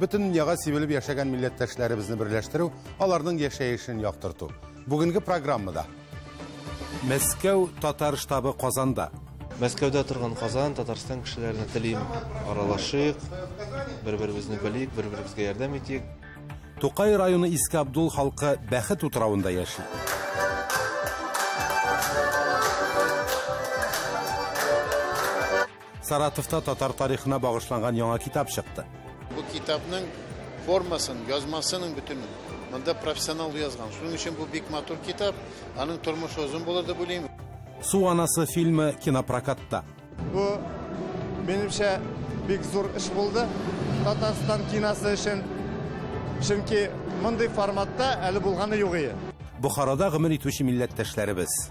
Бөтен дөньяга сибелеп яшәгән милләттәшләребезне берләштерү, аларның яшәешен яктырту. Бүгенге программада. Мәскәү татар штабы Казанда. Мәскәүдә торган Казан, Татарстан кешеләренә телим, аралашыйк, бер-беребезне белик, бер-беребезгә ярдәм итик. Тукай районы Иске Абдул халкы Бәхет утравында яши. Саратовта татар тарихына багышланган яңа китап чыкты. Бу китапның формасын, язмасының бөтен монда профессионал язган. Шуның өчен бу бик матур китап, аның тормышы озын булыр дип уйлыйм. Су анасы фильмы кинопрокатта. Бу минемчә бик зур эш булды Татарстан киносы өчен. Чөнки мондый форматта әле булганы юк ие. Бохарада гомер итүче милләттәшләребез.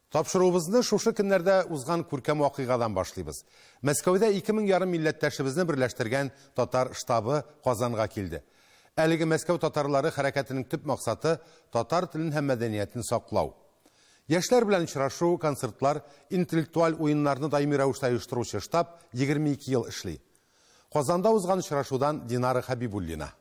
Тапшыруыбызны шушы көннәрдә узган күркәм вакыйгадан башлыйбыз. Мәскәүдә ике мең ярым милләттәшебезне берләштергән татар штабы Казанга килде. Әлеге Мәскәү татарлары хәрәкәтенең төп максаты, татар телен һәм мәдәниятен саклау. Яшьләр белән очрашу, концертлар, интеллектуаль уеннарны даими рәвештә оештыручы штаб егерме ике ел эшли. Казанда узган очрашудан Динара Хәбибуллина.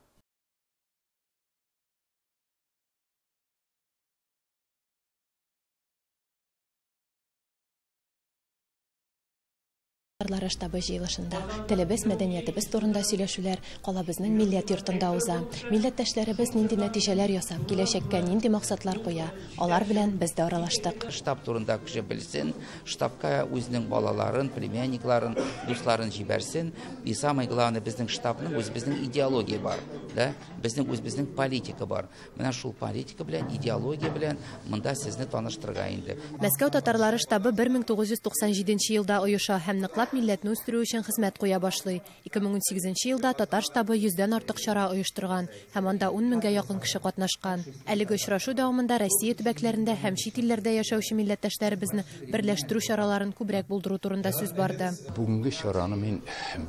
Татарлары штабы җыелышында телебез, мәдәниятебез турында сөйләшүләр калабызның милләт йортында уза. Милләттәшләребез нинди нәтиҗәләр ясап, киләчәккә нинди максатлар куя, алар белән без дә аралаштык. Штаб турында кеше белсен, штабка үзенең балаларын, племянникларын, дусларын җибәрсен. И самое главное, безнең штабның үзебезнең идеология бар, да? Безнең үзебезнең политика бар. Менә шул политика белән, идеология белән монда сезне таныштырырга инде. Мәскәү татарлары штабы 1997 елда оеша һәм ныклап милләтне үстерү өчен хезмәт куя башлый. 2018 елда татар штабы 100 дән артык чара оештырган һәм анда 10 меңгә якын кеше катнашкан. Әлеге очрашу дәвамында Россия төбәкләрендә һәм чит илләрдә яшәүче милләттәшләребезне берләштерү чараларын күбрәк булдыру турында сүз барды. Бүгенге чараны мин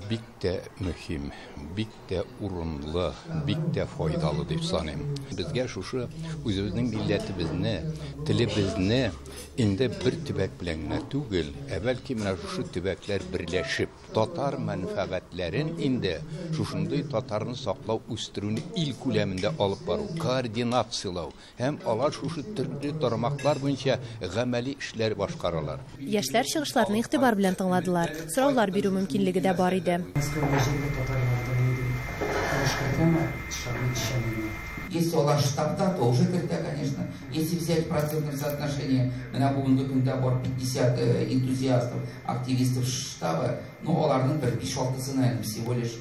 бик тә мөһим, бик тә урынлы, бик тә файдалы дип саныйм. Безгә шушы үзебезнең милләтебезне, телебезне инде бер төбәк белән генә түгел, ә бәлки менә шушы төбәкләр берләшеп, татар мәнфәгатьләрен инде шушындый татарны саклау, үстерүне ил күләмендә алып бару, координацияләү, Һәм алар шушы төрле тармаклар буенча гамәли эшләр башкаралар. Яшьләр чыгышларны игътибар белән тыңладылар, сораулар бирү мөмкинлеге дә бар иде. Мәскәү гаҗәпе татарларда нинди тавыш кертәме, шагыйрь эшчәнлегенә? Если алар штатта, то уже кертә, конечно. Если взять в процентном соотношении, менә бүгенге көндә бар 50 энтузиастов, активистов штабы, ну аларның бер биш-алтысына әле всего лишь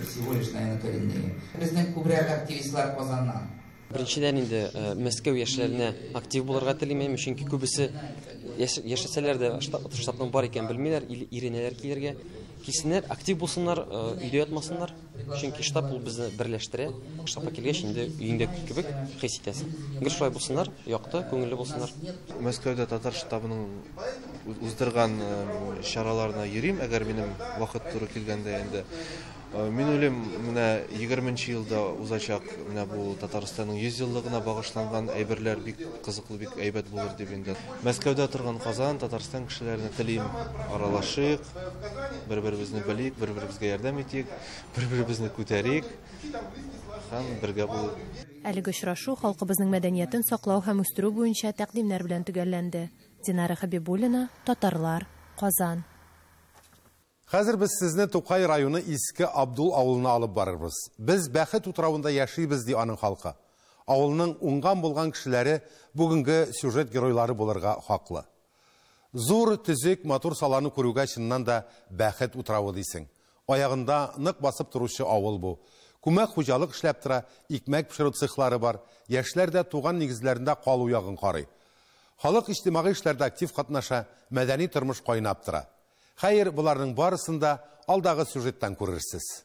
Всего лишь, наверное, коренные. Безнең күбрәк активистлар Казаннан. Беренчедән инде э, Мәскәү яшьләренә актив булырга телим мин, чөнки күбесе яшәсәләр дә штатның бар икән белмиләр, иренәләр килергә. Килсеннәр, актив булсыннар, э, өйдә ятмасыннар, чөнки штаб ул безне берләштерә. Штабка килгәч инде өеңдә кебек хис итәсең. Гел шулай булсыннар, якты, күңелле булсыннар. Мәскәүдә татар штабының уздырган чараларына йөрим, әгәр минем вакыт туры килгәндә инде. Мин уйлыйм, менә 20 нче елда узачак менә бу Татарстанның 100 еллыгына багышланган әйберләр бик кызыклы, бик әйбәт булыр дип инде. Мәскәүдә торган Казан, Татарстан кешеләренә телим, аралашыйк, бер-беребезне белик, бер-беребезгә ярдәм итик, бер-беребезне күтәрик һәм бергә булыйк. Әлеге очрашу халкыбызның мәдәниятен саклау һәм үстерү буенча тәкъдимнәр белән төгәлләнде. Динара Хәбибуллина, Татарлар, Казан. Хәзер без сезне Тукай районы Иске Абдул авылына алып барырбыз. Без бәхет утравында яшибез, ди аның халкы. Авылның уңган-булган кешеләре бүгенге сюжет геройлары булырга хаклы. Зур, төзек, матур саланы күрүгә чыннан да бәхет утравы дисең. Аягында нык басып торучы авыл бу. Күмәк хуҗалык эшләп тора, икмәк пешерү цехлары бар. Яшьләр дә туган нигезләрендә калу ягын карый. Халык иҗтимагый эшләрдә актив катнаша, мәдәни тормыш кайнап тора. Хәер, боларның барысын да алдагы сюжеттан күрерсез.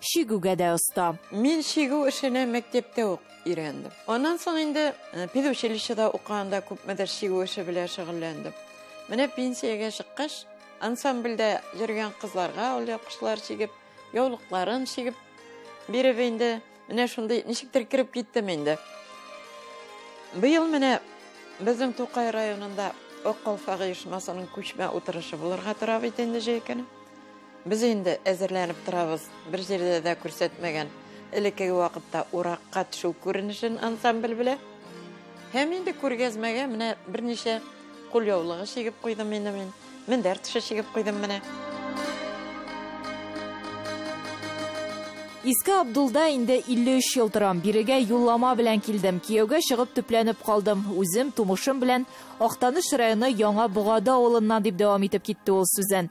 чигүгә дә оста. Мин чигү эшенә мәктәптә үк өйрәндем. Аннан соң инде э, педучилищеда укыганда күпмедер чигү эше белән шөгыльләндем. Менә пенсиягә чыккач, ансамбльдә йөргән кызларга ул япкычлар чигеп, яулыкларын чигеп биреп инде менә шундый ничектер кереп киттем инде. Быел менә безнең Тукай районында Ак калфак оешмасының күчмә утырышы булырга тора бит инде җәй көне. Без инде әзерләнеп торабыз, бер җирдә дә күрсәтмәгән. Элеккеге вакытта уракка төшү күренешен ансамбль белә. Һәм инде күргәзмәгә менә берничә кул яулыгы чигеп куйдым инде мин. Мендәр тышы чигеп куйдым менә. Иске Абдулда инде 53 ел торам. Бирегә юллама белән килдем. Кияүгә чыгып төпләнеп калдым. Үзем, тумышым белән Актаныш районы Яңа Богады авылыннан, дип дәвам итеп китте ул сүзен.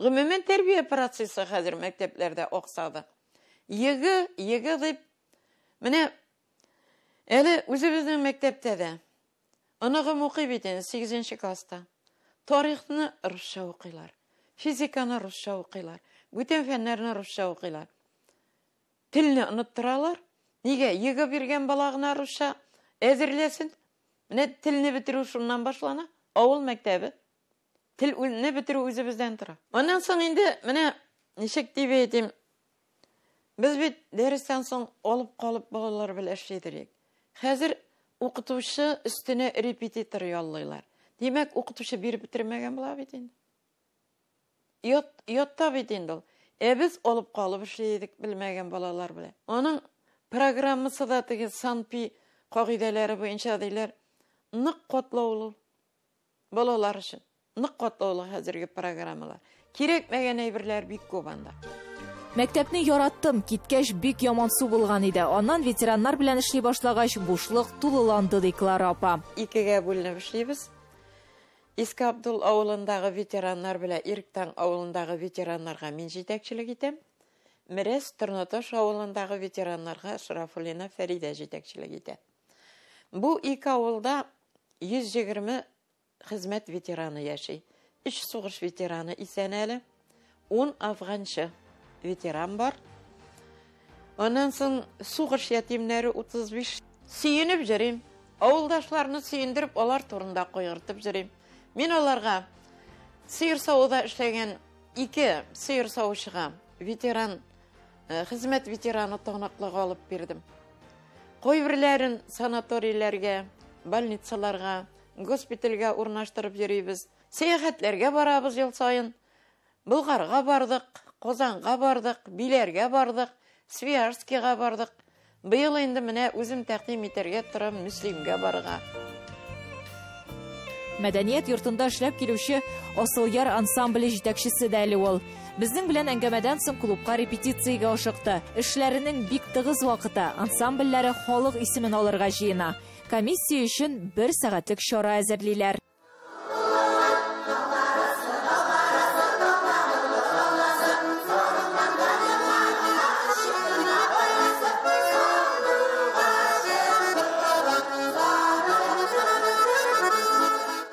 Гомумән, тәрбия процессы хәзер мәктәпләрдә аксады. Егэ, егэ дип, менә әле үзебезнең мәктәптә дә оныгым укый бит инде сигезенче класста. Тарихны русча укыйлар, физиканы русча укыйлар, бүтән фәннәрне русча укыйлар. Телне оныттыралар. Нигә? Егэ биргән бала гына русча әзерләсен. Менә телне бетерү шуннан башлана, авыл мәктәбе. Тел ү не бетерү үзебездән тора. Аннан соң инде менә ничек дип әйтим, без бит дәрестән соң алып калып балалар белән эшли торыйк. Хәзер укытучы өстенә репетитор яллыйлар. Димәк, укытучы биреп бетермәгән була бит инде. Ят, ятта бит инде ул. Ә без алып калып эшли идек белмәгән балалар белән. Аның программасы да теге санпи кагыйдәләре буенча диләр. Нык котлаулы. Балалар өчен нык катлаулы хәзерге программалар. Кирәкмәгән әйберләр бик күп анда. Мәктәпне яраттым, киткәч бик ямансу булган иде. Аннан ветераннар белән эшли башлагач, бушлык тулыланды, ди Клара апа. Икегә бүленеп эшлибез. Иске Абдул авылындагы ветераннар белән Ирктаң авылындагы ветераннарга мин җитәкчелек итәм. Мерәс Торнаташ авылындагы ветераннарга Шарафуллина Фәридә җитәкчелек итә. Бу ике авылда 120 хезмәт ветераны яши. Өч сугыш ветераны исән әле. Ун афганчы ветеран бар. Аннан соң сугыш ятимнәре 35. Сөенеп җөрим. Авылдашларны сөендереп, алар турында кайгыртып җөрим. Мин аларга сыер савуда эшләгән ике сыер савучыга ветеран Э, хезмәт ветераны таныклыгы алып бирдем кайберләрен санаторийләргә больницаларга госпитальгә урнаштырып йөрибез сәяхәтләргә барабыз ел саен болгарга бардык казанга бардык биләргә бардык свияжскийга бардык Быел инде менә үзем тәкъдим итәргә торам Мөслимгә барырга. Мәдәният йортында эшләп килүче Асылъяр ансамбле җитәкчесе дә әле ул. Безнең белән әңгәмәдән соң клубка репетициягә ашыкты. Эшләренең бик тыгыз вакыты, ансамбльләре халык исемен алырга җыена. Комиссия өчен бер сәгатьлек чара әзерлиләр.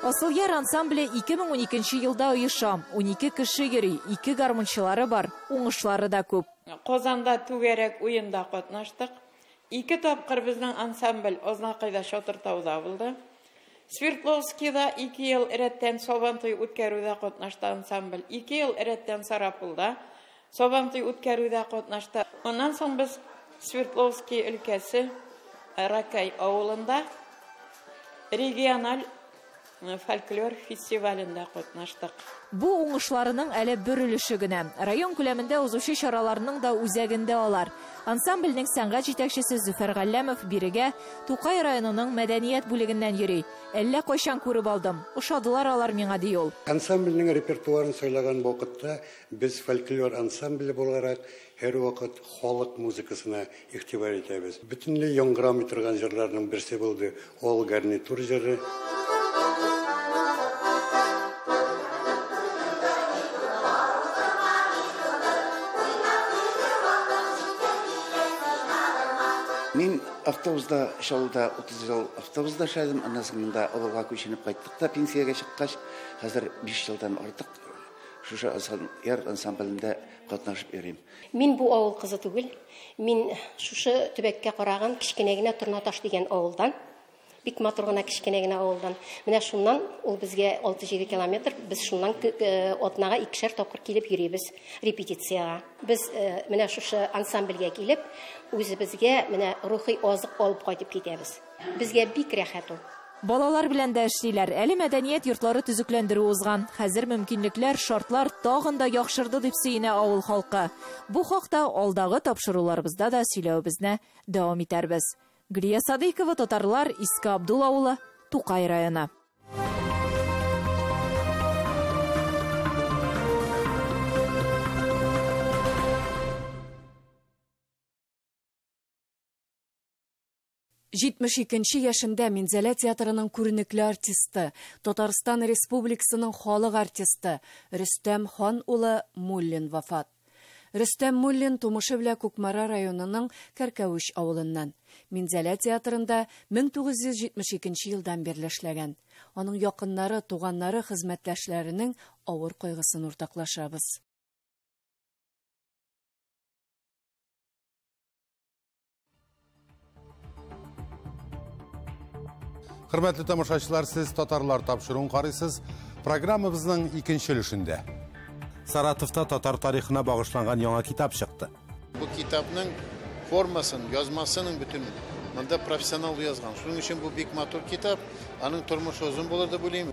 Асылъяр ансамбле 2012 елда оеша. 12 кеше йөри, ике гармунчылары бар, уңышлары да күп. Казанда түгәрәк уенда катнаштык. Ике тапкыр безнең ансамбль Азнакайда Чатыртауда булды. Свердловскида ике ел рәттән Сабантуй үткәрүдә катнашты ансамбль. Ике ел рәттән Сарапулда Сабантуй үткәрүдә катнашты. Моннан соң без Свердловски өлкәсе Ракай авылында региональ фольклор фестивалендә катнаштык. Бу уңышларының әле бер өлеше генә. Район күләмендә узучы чараларның да үзәгендә алар. Ансамбльнең сәнгать җитәкчесе Зөфәр Галләмов бирегә Тукай районының мәдәният бүлегеннән йөри. Әллә кайчан күреп алдым. Ошадылар алар миңа, ди ул. Ансамбльнең репертуарын сайлаган вакытта без фольклор ансамбле буларак һәрвакыт халык музыкасына игътибар итәбез. Бөтенләй яңгырамый торган җырларның берсе булды Ул гарнитур җыры. Мин автобуста Чаллыда 30 ел автобуста эшләдем. Аннан соң монда Олыга күченеп кайттык та пенсиягә чыккач, хәзер 5 елдан артык шушы яр ансамблендә катнашып йөрим. Мин бу авыл кызы түгел. Мин шушы төбәккә караган кечкенә генә Торнаташ дигән авылдан. Бик матур гына кечкенә генә авылдан. Менә шуннан ул безгә 6-7 километр. Без шуннан э, атнага икешәр тапкыр килеп йөрибез репетициягә. Без э, менә шушы ансамбльгә килеп, үзебезгә менә рухи азык алып кайтып китәбез. Безгә бик рәхәт ул. Балалар белән дә эшлиләр. Әле мәдәният йортлары төзекләндерү узган. Хәзер мөмкинлекләр, шартлар тагын да яхшырды, дип сөенә авыл халкы. Бу хакта алдагы тапшыруларыбызда да сөйләвебезне дәвам итәрбез. Гөлия Садыйкова, Татарлар, Иске Абдул авылы, Тукай районы. 72 нче яшендә Минзәлә театрының күренекле артисты, Татарстан Республикасының халык артисты Рөстәм хан улы Муллин вафат. Рөстәм Муллин тумышы белә Кукмара районының Кәркәвеч авылыннан. Минзәлә театрында 1972 нче елдан бирле эшләгән. Аның якыннары, туганнары, хезмәттәшләренең авыр кайгысын уртаклашабыз. Хөрмәтле тамашачылар, сез татарлар тапшыруын карыйсыз. Программабызның икенче өлешендә. Саратовта татар тарихына багышланган яңа китап чыкты. Бу китапның формасын, язмасының бөтен монда профессионал язган. Шуның өчен бу бик матур китап. Аның тормышы озын булыр дип уйлыйм.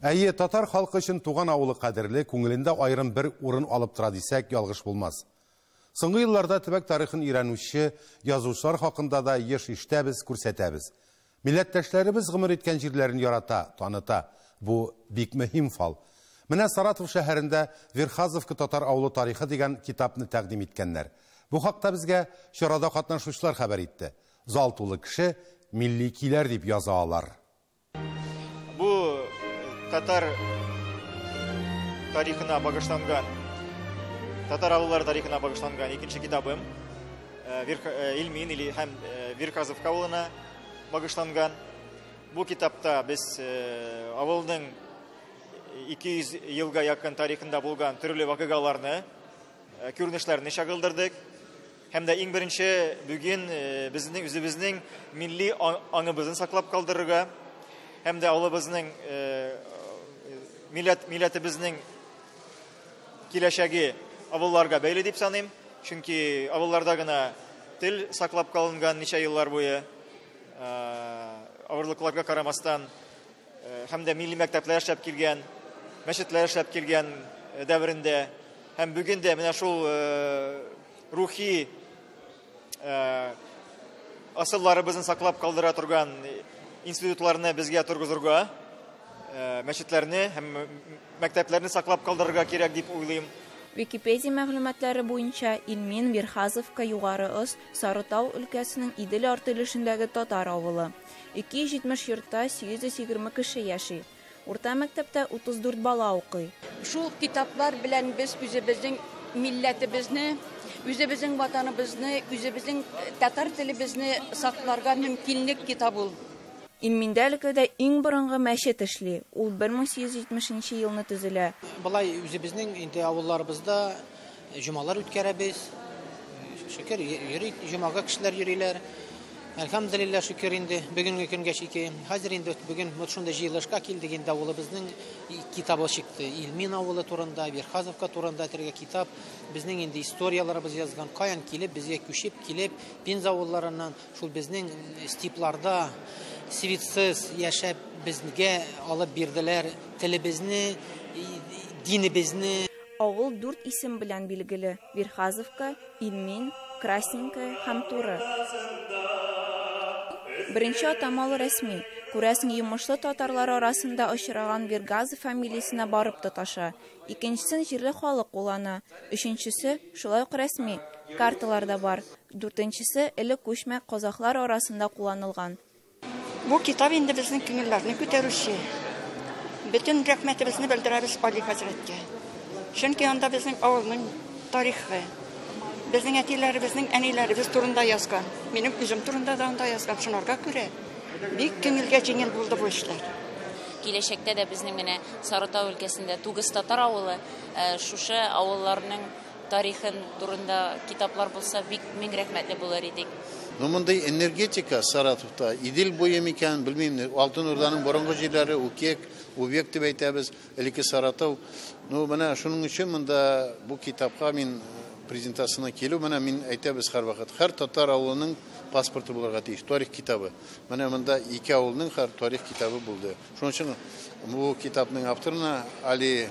Әйе, татар халкы өчен туган авылы кадерле, күңелендә аерым бер урын алып тора дисәк, ялгыш булмас. Соңгы елларда төбәк тарихын өйрәнүче язучылар хакында да еш ишетәбез, күрсәтәбез. Милләттәшләребез гомер иткән җирләрен ярата, таныта. Бу, бик мөһим фал. Менә Саратов шәһәрендә Верхазовка татар авылы тарихы дигән китапны тәкъдим иткәннәр. Бу хакта безгә чарада катнашучылар хәбәр итте. Зал тулы кеше, милли көйләр дип яза алар. Бу татар тарихына багышланган, татар авыллары тарихына багышланган икенче китабым. Илмин или һәм Вирказовка авылына багышланган. Бу китапта без авылның 200 елга якын тарихында булган төрле вакыйгаларны, күренешләрне чагылдырдык. Һәм дә иң беренче бүген безнең үзебезнең милли аңыбызны саклап калдырырга һәм дә авылыбызның милләт милләтебезнең Киләчәге авылларга бәйле дип саныйм, чөнки авылларда гына тел саклап калынган ничә еллар буе. Авырлыкларга карамастан һәм дә милли мәктәпләр эшләп килгән, мәчетләр эшләп килгән дәверендә һәм бүген дә менә шул рухи Э, асылларыбызны саклап калдыра торган институтларны безгә торгызырга э, мәчетләрне һәм мәктәпләрне саклап калдырырга кирәк дип уйлыйм Википедия мәгълүматлары буенча Илмин Верхазовка Югары Ос Сарытау өлкәсенең Идел арты өлешендәге татар авылы. 270 йортта 820 кеше яши. Урта мәктәптә 34 бала укый. Шул китаплар белән без үзебезнең милләтебезне, үзебезнең Ватаныбызны, үзебезнең татар телебезне сакларга мөмкинлек китап ул. Илминдә өлкәдә иң борынгы мәчет эшли, ул 1870 нче елны төзелә. Болай үзебезнең инде авылларыбызда Җомалар үткәрәбез. Шөкер, йөри җомага кешеләр йөриләр. Әлхәмдулилла шөкер инде бүгенге көнгә чике. Хәзер инде бүген вот шундый җыелышка килдек инде авылыбызның китабы чыкты. Илмин авылы турында, Верхазовка турында тиргә китап. Безнең инде историяләребез язган, каян килеп, безгә күчеп килеп, Пенза авылларыннан шул безнең степларда свитсыз яшәп безгә алып бирделәр телебезне, динебезне. Авыл дүрт исем белән билгеле, Верхазовка, Ильмин, Красненькое һәм Туры. Беренче атамалы рәсми, күрәсең, йомышлы татарлар арасында очраган Вергазов фамилиясенә барып тоташа. Икенчесен җирле халык куллана. Өченчесе, шулай ук рәсми, карталарда бар. Дүртенчесе, элек күчмә казахлар арасында кулланылган. Бу китап инде безнең күңелләрне күтәрүче. Бөтен рәхмәтебезне белдерәбез Али хәзрәткә. Чөнки анда безнең авылның тарихы, безнең әтиләребезнең, әниләребез турында язган. Минем үзем турында да анда язган. Шунарга күрә бик күңелгә җиңел булды бу эшләр. Киләчәктә дә безнең менә Сарытау өлкәсендә Тугыз татар авылы шушы авылларның Тарихын турында китаплар булса бик мең рәхмәтле булыр идек. Ну мондый энергетика Саратовта, Идел буе микән, белмим, Алтын Урданың борынгы җирләре, Укек, Увек дип әйтәбез, элекке Саратов. Ну менә шуның өчен монда бу китапка мин презентациясенә килү, менә мин әйтәбез һәрвакыт, һәр татар авылының паспорты булырга тиеш, тарих китабы. Менә монда ике авылның һәр тарих китабы булды. Шуның өчен бу китапның авторына Али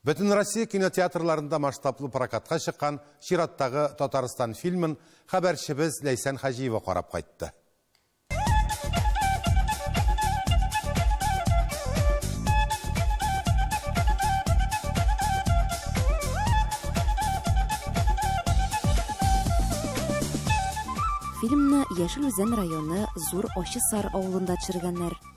Бөтенроссия кинотеатрларында масштаблы прокатка чыккан чираттагы Татарстан фильмын хәбәрчебез Ләйсән Хаҗиева карап кайтты. Фильмны Яшел Үзән районы Зур Ачы Сар авылында төшергәннәр.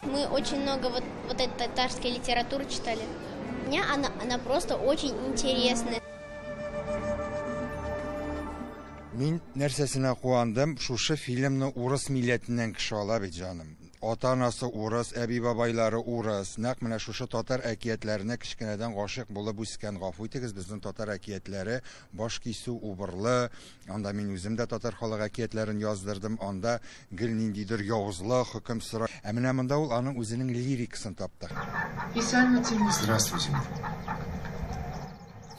Мы очень много вот, вот этой татарской литературы читали. Мне она, она просто очень интересная. Мин нәрсәсенә куандым, шушы фильмны урыс милләтеннән кеше ала бит, җаным. Ата-анасы урыс, әби-бабайлары урыс. Нәкъ менә шушы татар әкиятләренә кечкенәдән гашыйк булып үскән. Гафу итегез, безнең татар әкиятләре баш кисү, убырлы, Анда мин үзем дә татар халык әкиятләрен яздырдым, анда гел ниндидер явызлык хөкем сора. Ә менә монда ул аның үзенең лирикасын тапты. Исәнмесеңме? Здравствуйте.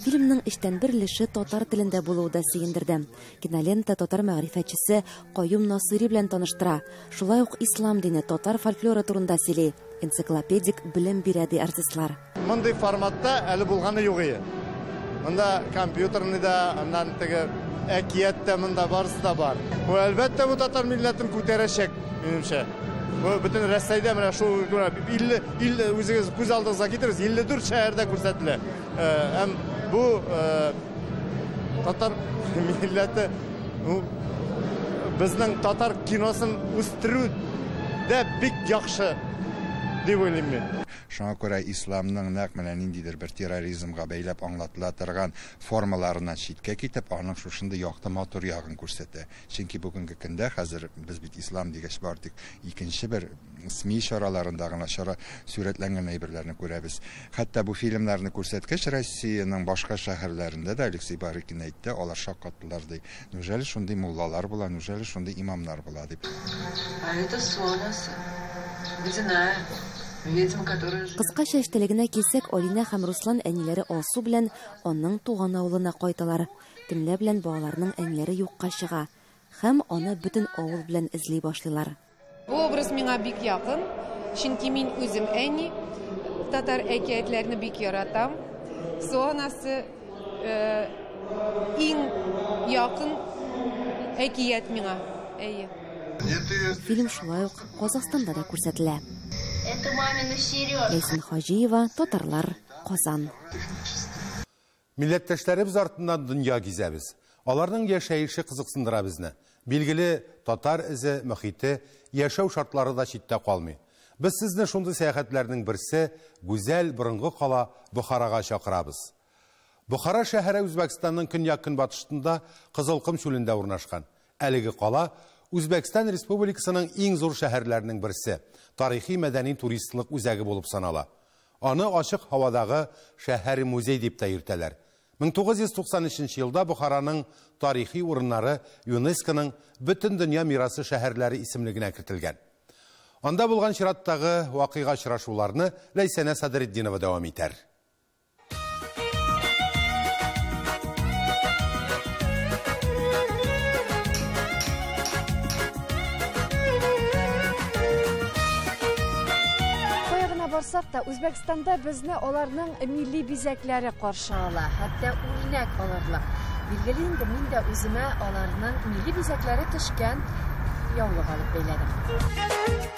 Фильмның өчтән бер өлеше татар телендә булуы да сөендерде. Кинолента татар мәгърифәтчесе Каюм Насыйри белән таныштыра. Шулай ук ислам дине, татар фольклоры турында сөйли, энциклопедик белем бирә, ди артистлар. Мондый форматта әле булганы юк ие. Монда компьютерный да, аннан теге әкият тә монда барысы да бар. Бу әлбәттә бу татар милләтен күтәрәчәк, минемчә. Бу бөтен Рәсәйдә менә шул 50 50 үзегез күз алдыгызга китерегез, 54 шәһәрдә күрсәтелә. Һәм бу татар милләте безнең татар киносын үстерү дә бик яхшы дип уйлыйм мин. Шуңа күрә исламның нәкъ менә ниндидер бер терроризмга бәйләп аңлатыла торган формаларыннан читкә китеп, аның шушындый якты, матур ягын күрсәтә. Чөнки бүгенге көндә хәзер без бит ислам дигәч бары тик икенче бер СМИ чараларында гына чара сурәтләнгән әйберләрне күрәбез. Хәтта бу фильмнарны күрсәткәч, Россиянең башка шәһәрләрендә дә, Алексей Барыкин әйтте, алар шаккаттылар, ди. Неужели шундый муллалар була, неужели шундый имамнар була, дип. А это су анасы. Водяная. Ведьма, которая живет. Кыска чәч теләгенә килсәк, Алинә һәм Руслан әниләре Алсу белән аның туган авылына кайталар. Төнлә белән балаларның әниләре юкка чыга һәм аны бөтен авыл белән эзли башлыйлар. Бу образ миңа бик якын, чөнки мин үзем әни, татар әкиятләрне бик яратам. Су анасы иң якын әкият миңа. Әйе. Фильм шулай ук Казахстанда да күрсәтелә. Это мамины сережки. Ләйсән Хаҗиева, Татарлар, Казан. Милләттәшләребез артыннан дөнья гизәбез. Аларның яшәеше кызыксындыра безне. Билгеле, татар эзе, мохите, яшәү шартлары да читтә калмый. Без сезне шундый сәяхәтләрнең берсе, гүзәл, борынгы кала Бохарага чакырабыз. Бохара шәһәре Үзбәкстанның көньяк-көнбатыштнда Кызылком чүлендә урнашкан. Әлеге кала, Үзбәкстан Республикасының иң зур шәһәрләренең берсе, тарихи-мәдәни-туристлык үзәге булып санала. Аны ачык һавадагы шәһәр-музей дип тә йөртәләр. 1993 елда Бохараның тарихи урыннары ЮНЕСКОның Бөтендөнья мирасы шәһәрләре исемлегенә кертелгән. Анда булган чираттагы вакыйга-очрашуларны Ләйсәнә Садретдинова дәвам итәр. барсак та, Үзбәкстанда безне аларның милли бизәкләре каршы ала, хәтта үрнәк алырлык. Билгеле инде мин дә үземә аларның милли бизәкләре төшкән яулык алып бәйләдем.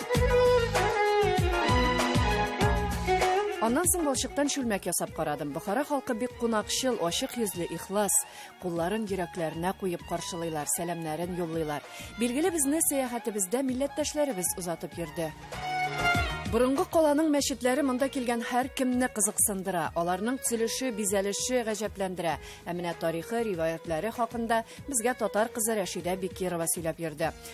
Аннан соң балчыктан чүлмәк ясап карадым. Бохара халкы бик кунакчыл, ачык йөзле, ихлас. Кулларын йөрәкләренә куеп каршылыйлар, сәламнәрен юллыйлар. Билгеле, безне сәяхәтебездә милләттәшләребез озатып йөрде. Борынгы каланың мәчетләре монда килгән һәр кемне кызыксындыра. Аларның төзелеше, бизәлеше гаҗәпләндерә. Ә менә тарихы, риваятләре хакында безгә татар кызы Рәшидә Бекирова сөйләп йөрде.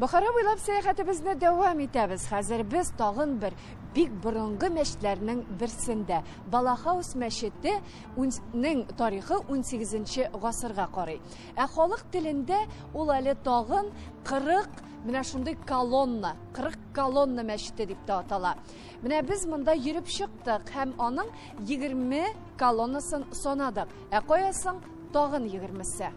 Бохара буйлап сәяхәтебезне дәвам итәбез. Хәзер без тагын бер бик борынгы мәчетләрнең берсендә. Балахаус мәчете нең тарихы 18 гасырга карый. Ә халык телендә ул әле тагын 40 менә шундый колонна, 40 колонна мәчете дип тә атала. Менә без монда йөреп чыктык һәм аның 20 колоннасын санадык. Ә каясың тагын 20-се?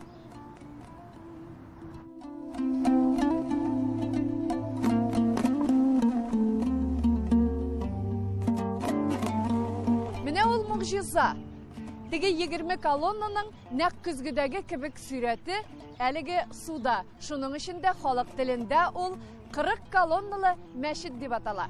Менә ул могҗиза. Теге 20 колоннаның нәкъ көзгедәге кебек сүрәте әлеге суда. Шуның өчен дә халык телендә ул 40 колонналы мәчет дип атала.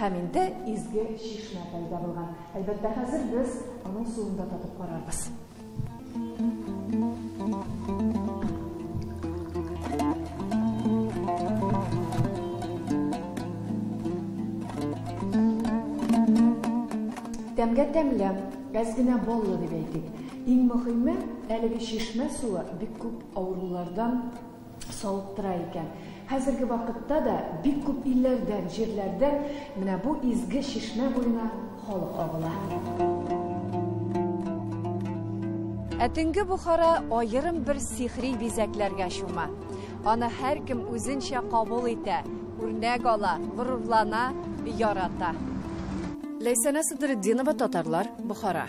Һәм инде изге чишмә пәйда булган. Әлбәттә, хәзер без аның суын да татып карарбыз. Тәмгә тәмле, әз генә баллы дип әйтик. Иң мөһиме, әлеге чишмә суы бик күп авырулардан савыктыра икән. Хәзерге вакытта да бик күп илләрдән, җирләрдән менә бу изге чишмә буена халык агыла. Ә төнге Бухара аерым бер сихри бизәкләргә чума. Аны һәркем үзенчә кабул итә, үрнәк ала, горурлана, ярата. Ләйсәнә Садретдинова, Татарлар, Бухара.